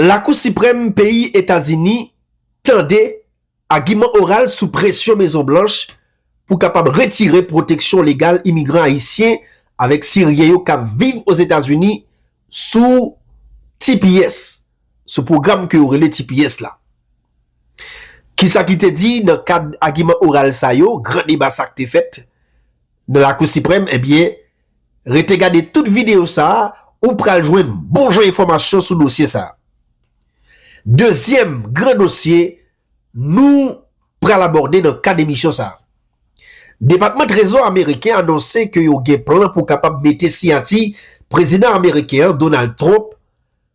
Lakou Siprèm peyi Etazini tande agiman oral sou presyon Mezon Blanch pou kapab retire pwoteksyon legal imigran ayisyen avèk siryen yo kap viv Ozetazini sou tps, sou pwogram ke yo rele tps la. Kisa ki te di nan kad agiman oral sa yo, gran deba sak te fèt nan Lakou Siprèm, ebyen. Rete gade tout videyo sa a, ou pral jwenn bon jan enfòmasyon sou dosye sa a. Dezyèm gran dosye nou pral abòde nan kad emisyon sa a. Depatman Trezò ameriken anonse ke yo gen plan pou kapab mete siyati prezidan ameriken an, Donald Trump,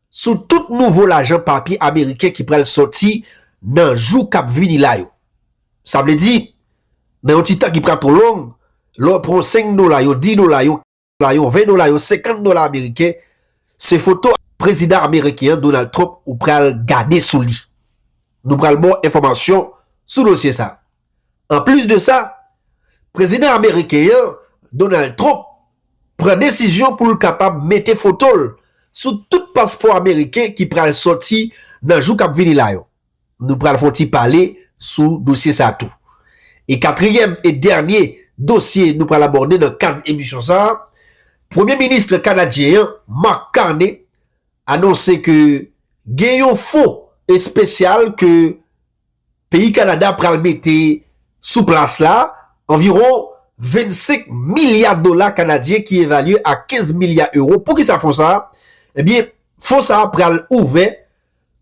sou tout nouvo lajan papye ameriken ki pral sòti nan jou k ap vini la yo. Sa vle di, nan yon ti tan ki pa twò long, lè w pran yon senk dola, yon dis dola, yon kenz dola, yon ven dola, yon senkant dola ameriken, se foto prezidan ameriken an, Donald Trump, ou pral gade sou li. Nou pral ba w enfòmasyon sou dosye sa a. Anplis de sa, prezidan ameriken an, Donald Trump, pran desizyon pou l kapab mete foto l sou tout paspò ameriken ki pral sòti nan jou k ap vini la yo. Nou pral fè yon ti pale sou dosye sa tou. E katriyèm e dènye dosye nou pral abòde nan kad emisyon sa a, premye ministre kanadyen an, Mark Carney, anonse ke gen yon fon espesyal ke Peyi Kanada pral mete sou plas la anviwon 25 milya dola kanadyen ki evalye a 15 milya ewo. Poukisa fon sa a? Ebyen, fon sa a pral ouvè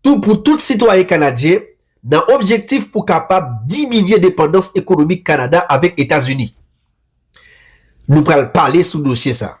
tou pou tout sitwayen kanadyen nan objektif pou kapab diminye depandans ekonomik Kanada avèk Etazini. Nou pral pale sou dosye sa a.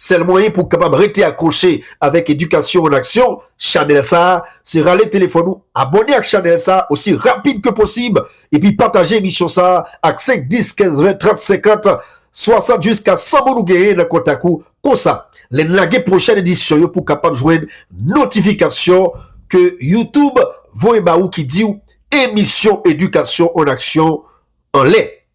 Sèl mwayen pou w kapab rete akwoche avèk Edikasyon an Aksyon, chanèl sa a, se rale telefòn ou abòne ak chanèl sa a osi rapid ke posib epi pataje emisyon sa a ak 5, 10, 15, 20, 30, 50, 60 jiska 100 moun ou genyen nan kontak ou, konsa lè n lage pwochèn edisyon yo pou kapab jwenn notifikasyon ke YouTube voye ba ou ki di w Emisyon Edikasyon an Aksyon anlè.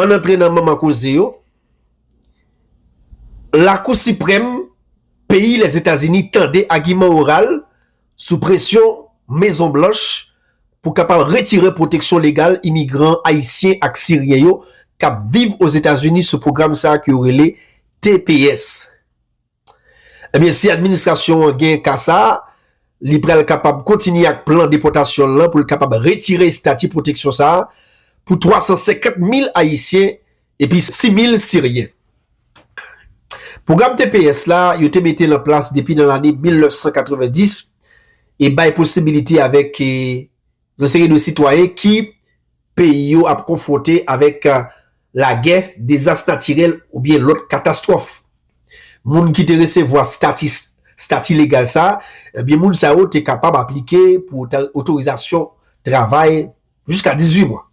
Ann antre nan manman koze yo, Lakou Siprèm peyi Lèzetazini tande agiman oral sou presyon Mezon Blanch pou kapab retire pwoteksyon legal imigran ayisyen ak siryen yo k ap viv Ozetazini sou pwogram sa a ke yo rele tps. Ebyen si administrasyon an gen ka sa, li pral kapab kontinye ak plan depòtasyon l lan pou l kapab retire estati pwoteksyon sa pou 350 mil ayisyen epi 6 mil siryen. Pwogram tps la, yo te mete l an plas depi nan lane 1990 e bay posibilite avèk. Yon seri de sitwayen ki peyi yo ap konfwonte avèk lagè, dezas natirèl oubyen lòt katastwòf. Moun ki te resevwa stati legal sa, ebyen moun sa yo te kapab aplike pou otorizasyon travay jiska 18 mwa.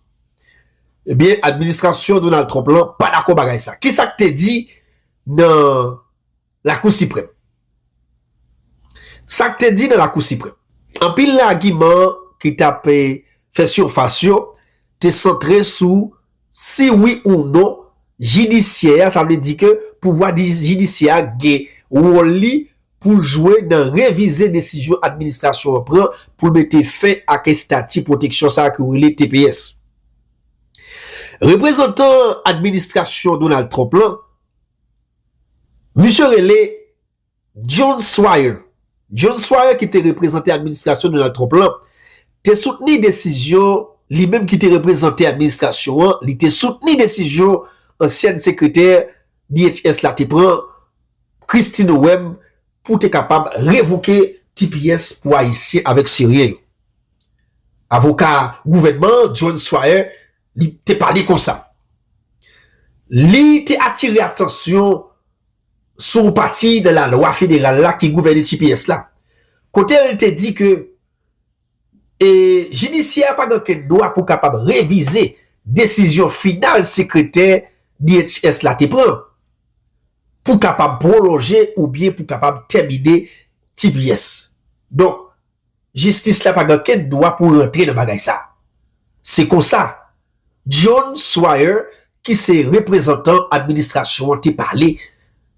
Ebyen administrasyon Donald Trump lan pa dakò bagay sa. Kisa k te di nan Lakou Siprèm Sa k te di nan Lakou Siprèm? Anpil nan agiman ki t ap fè sifas yo te santre sou si wi ou non jidisyè a, sa vle di ke pouvwa jidisyè a gen wòl li pou l jwe nan revize desizyon administrasyon an pran pou l mete fen ak estati pwoteksyon sa a ke yo rele tps. Reprezantan administrasyon Donald Trump lan, Misye rele Jon Schwyer. Jon Schwyer ki te reprezante administrasyon Donald Trump lan te soutni desizyon li menm ki te reprezante administrasyon an li te soutni desizyon ansyèn sekretè DHS la te pran Kristi Noem pou te kapab revoke tps pou ayisyen avèk siryen yo. Avoka gouvènman an Jon Schwyer li te pale konsa. Li te atire atansyon sou yon pati nan lalwa federal la ki gouvène tps la, kote l te di ke e jidisyè a pa gen okenn dwa pou kapab revize desizyon final sekretè DHS la te pran pou kapab pwolonje oubyen pou kapab tèmine tps. Donk, Jistis la pa gen okenn dwa pou rantre nan bagay sa. Se konsa, John Swyer ki se reprezantan administrasyon an te pale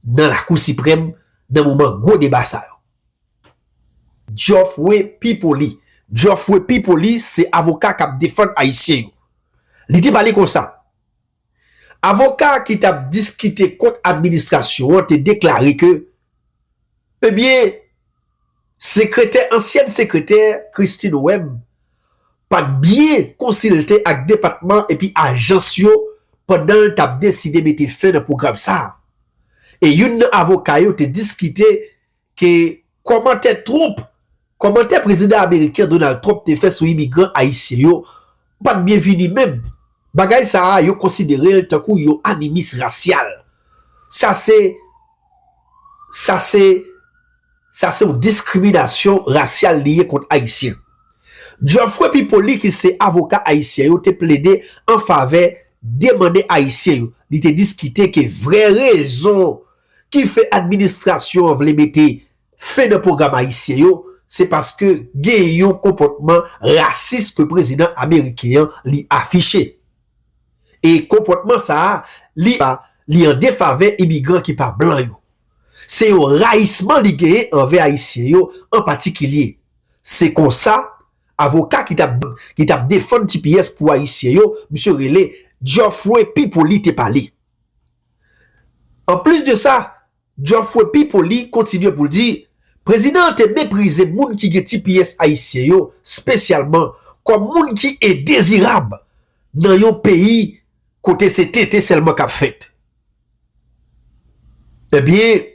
nan Lakou Siprèm nan moman gwo deba sa yo. Geoffrey P. Pauly, Jòfwe Pi Poli se avoka k ap defann Ayisyen yo. Li te pale konsa, Avoka ki t ap diskite kont administrasyon an te deklare ke ebyen sekretè ansyèn sekretè Christine Webb pa t byen konsilte ak depatman epi ajans yo pandan l t ap deside mete fen nan pwogram sa a e youn nan avoka yo te diskite ke kòmantè Trump, kòmantè Prezidan Ameriken Donald Trump te fè sou imigran Ayisyen yo pat byenvini menm. Bagay sa a yo konsidere l tankou yon animis rasyal. Sa se sa se sa se yon diskriminasyon rasyal li ye kont Ayisyen. Geoffrey Pipoli ki se avoka Ayisyen yo te plede an favè demande Ayisyen yo. Li te diskite ke vrè rezon ki fè administrasyon an vle mete fen nan pwogram ayisyen yo, se paske gen yon konpòtman rasis ke prezidan ameriken an li afiche. E konpòtman sa a, li pa, li an defavè imigran ki pa blan yo. Se yon rayisman li genyen anvè ayisyen yo an patikilye. Se konsa, avoka ki tap, ki tap defann tps pou ayisyen yo, misye rele Geoffrey Pipoli te pale. Anplis de sa, Geoffrey P. Pauly kontinye pou l di, Prezidan an te meprize moun ki gen tps ayisyen yo spesyalman kòm moun ki endezirab nan yon peyi kote se tenten sèlman k ap fèt. Ebyen.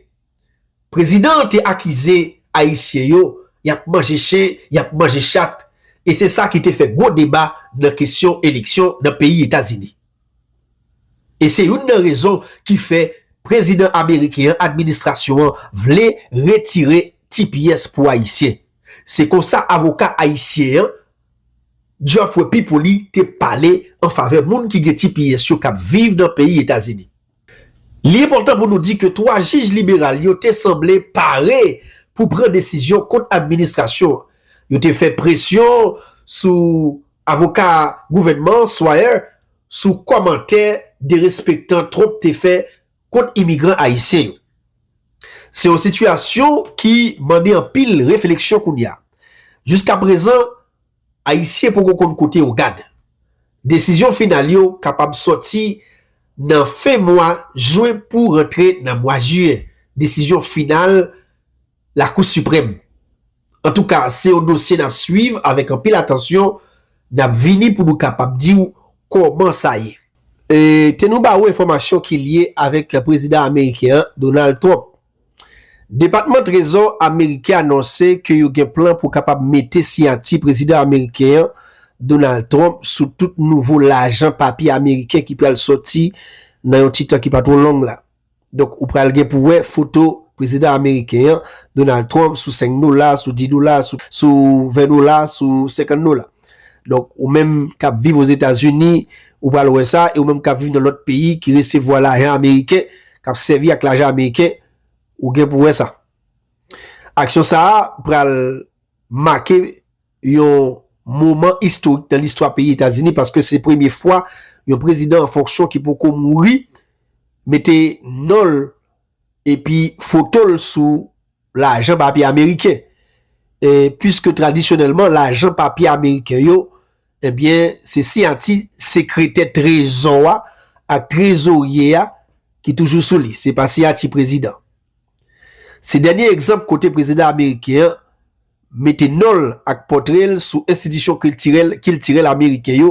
Prezidan an te akize Ayisyen yo y ap manje chen, y ap manje chat, e se sa ki te fè gwo deba nan kesyon eleksyon nan peyi Etazini. E se youn nan rezon ki fè prezidan ameriken an, administrasyon an, vle retire tps pou Ayisyen. Se kon sa avoka ayisyen an, Geoffrey Pipoli, te pale an favè moun ki gen tps yo k ap viv nan peyi Etazini. Li enpòtan pou nou di ke 3 jij liberal yo te sanble pare pou pran desizyon kont administrasyon an. Yo te fè presyon sou avoka gouvènman an, Swyer, sou kòmantè derespektan Trump te fè kont imigran ayisyen yo. Se yon sitiyasyon ki mande anpil refleksyon kounye a. Jiskaprezan, Ayisyen poko konn kote yo gad. Desizyon final yo kapab sòti nan fen mwa Jwen pou rantre nan mwa Jiye, desizyon final Lakou Siprèm. Antouka, se yon dosye n ap swiv avèk anpil atansyon, n ap vini pou nou kapab di w kòman sa ye. E te nou ba ou enfòmasyon ki lye avèk prezidan ameriken an, Donald Trump. Depatman Trezò ameriken anonse ke yo gen plan pou kapab mete siyati prezidan ameriken an, Donald Trump, sou tout nouvo lajan papye ameriken ki pral sòti nan yon ti tan ki pa two long la. Donk, ou pral gen pou wè foto prezidan ameriken an, Donald Trump, sou 5 dola, sou 10 dola, sou 20 dola, sou 50 dola. Donk, ou menm k ap viv Ozetazini, ou pral wè sa, e ou menm k ap viv nan lòt peyi ki resevwa lajan ameriken, k ap sèvi ak lajan ameriken, ou gen pou wè sa. Aksyon sa a pral make yon moman istorik nan listwa peyi Etazini paske se premye fwa yon prezidan an fonksyon ki poko mouri mete non l epi foto l sou lajan papye ameriken. E pwiske tradisyonèlman lajan papye ameriken yo, ebyen eh se siyati sekretè trezò a ak trezorye a ki toujou sou li, se pa siyati prezidan. Se dènye egzanp kote prezidan ameriken an mete non l ak pòtre l sou enstitisyon kiltirèl kiltirèl ameriken yo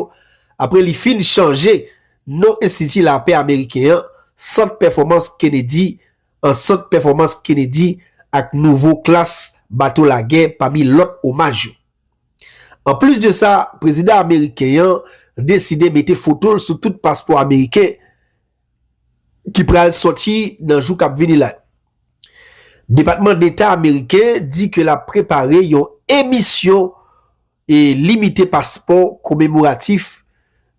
apre li fin chanje non Enstiti Lapè Ameriken an, Sant Pèfòmans Kennedy, an sant pèfòmans Kennedy ak nouvo klas bato lagè pami lòt omaj yo. Anplis de sa, prezidan ameriken an deside mete foto l sou tout paspò ameriken ki pral sòti nan jou k ap vini la yo. Depatman Deta ameriken di ke l ap prepare yon emisyon e limite paspò komemoratif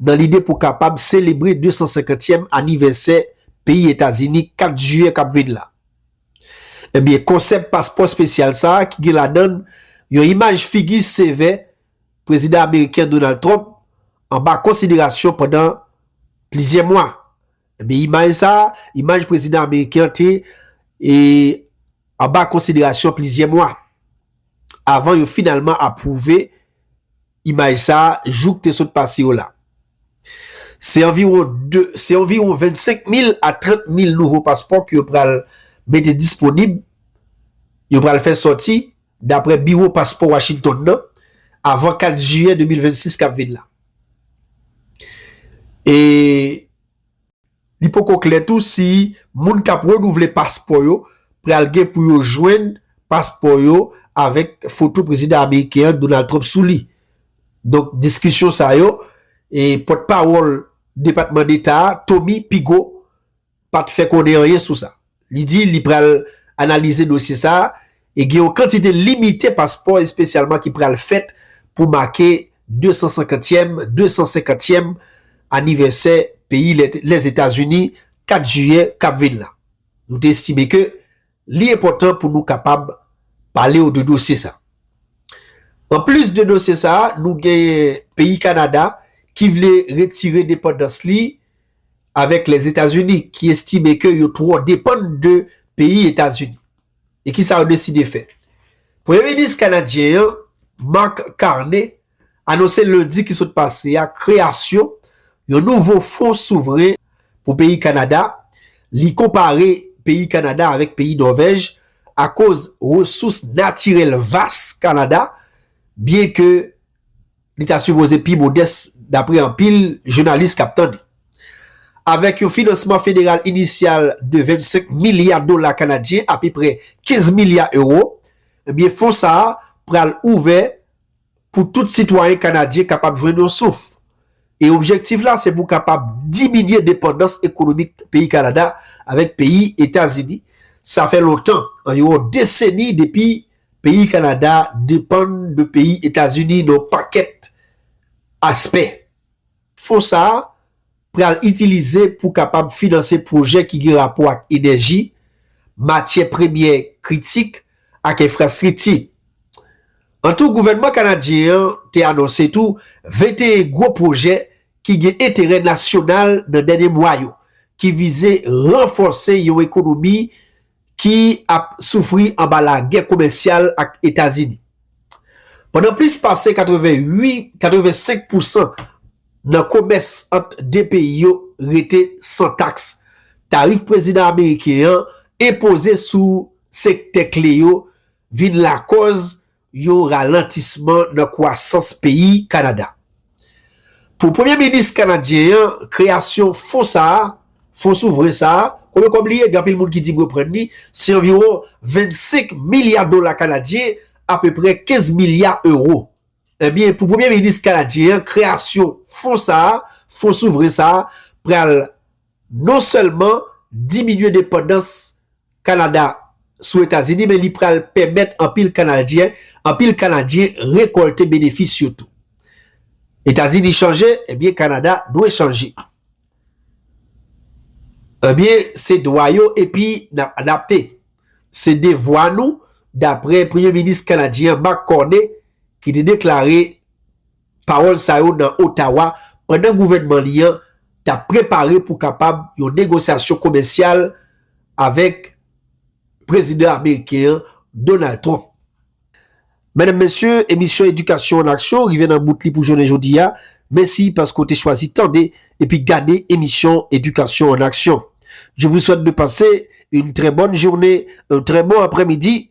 nan lide pou kapab selebre 250 tyèm anivèsè peyi Etazini 4 jiyè kap vin la. Ebyen konsèp paspò espesyal sa a ki gen ladann yon imaj figi sevè Prezidan ameriken Donald Trump anba konsiderasyon pandan plizyè mwa. Ebyen imaj sa, imaj prezidan ameriken an te e anba konsiderasyon plizyè mwa avan yo finalman apwouve imaj sa jou k te sot pase yo la. Se anviwon 2, se anviwon 25 mil a 30 mil nouvo paspò ke yo pral mete disponib, yo pral fè sòti. Daprè biwo paspò Washington nan, avan 4 jiyè 2026 kap vin la. E li poko klè tou si moun kap renouvle paspò yo pral gen pou yo jwenn paspò yo avèk foto prezidan ameriken an Donald Trump sou li. Donk diskisyon sa yo, pòtpawòl Depatman Deta a Tommy Pigot pa t fè konnen anyen sou sa. Li di li pral analize dosye sa a e gen yon kantite limite paspò espesyalman ki pral fèt pou make 250 tyèm 250 tyèm anivèsè peyi Lèzetazini 4 jiyè k ap vin la. Nou te estime ke Li enpòtan pou nou kapab pale w de dosye sa. Anplis de dosye sa, nou genyen peyi Kanada ki vle retire depandans li avèk Lèzetazini ki estime ke yo twò depann de peyi Etazini. E kisa yo deside fè? Premye minis kanadyen an, Mark Carney, anonse lendi ki sot pase a kreyasyon yon nouvo fon souvren pou peyi Kanada, li konpare peyi Kanada avèk peyi Nòvèj akoz resous natirèl vas Kanada, byen ke li ta sipoze pi modès dapre anpil jounalis kap tann li. Avèk yon finansman federal inisyal de 25 milya dola kanadyen, apeprè 15 milya ewo, ebyen fon sa a pral ouvè pou tout sitwayen kanadyen kapab jwenn yon souf, e objektif la se pou kapab diminye depandans ekonomik peyi Kanada avèk peyi Etazini, sa fè lontan, anviwon deseni depi peyi Kanada depann de peyi Etazini nan yon pakèt aspè. Fon sa a, pral itilize pou kapab finanse pwojè ki gen rapò ak enèji, matyè premyè kritik ak enfrastrikti. An tou, gouvènman kanadyen an te anonse tou 21 gwo pwojè ki gen enterè nasyonal nan dènye mwa yo, ki vize ranfòse yon ekonomi, ki ap soufri anba lagè komèsyal ak Etazini. Pandan plis pase 88-85 pousan nan komès ant 2 peyi yo rete san taks, tarif prezidan ameriken an enpoze sou sektè kle yo vin lakòz yon ralantisman nan kwasans peyi Kanada. Pou premye minis kanadyen an, kreyasyon fon sa a, fon souvren sa a, konnen kòb li ye, gen anpil moun ki di m reprann li, se anviwon 25 milya dola kanadyen, apeprè 15 milya ewo. Ebyen, pou premye minis kanadyen an, kreyasyon fon sa a, fon souvren sa a, pral non sèlman diminye depandans Kanada sou Etazini men li pral pèmèt anpil Kanadyen anpil Kanadyen rekòlte benefis yo tou. Etazini chanje, ebyen Kanada dwe chanje. Ebyen se dwa yo epi n ap adapte. Se devwa nou, daprè Premye Minis Kanadyen an Mark Carney ki te deklare. Pawòl sa yo nan Ottawa pandan gouvènman li an t ap prepare pou kapab yon negosyasyon komèsyal avèk prezidan ameriken an, Donald Trump. Medam mesye, emisyon Edikasyon an Aksyon rive nan bout li pou jounen jodi a. Mesi paske w te chwazi tande epi gade emisyon Edikasyon an Aksyon. Je vous souhaite de passer une très bonne journée, un très bon après-midi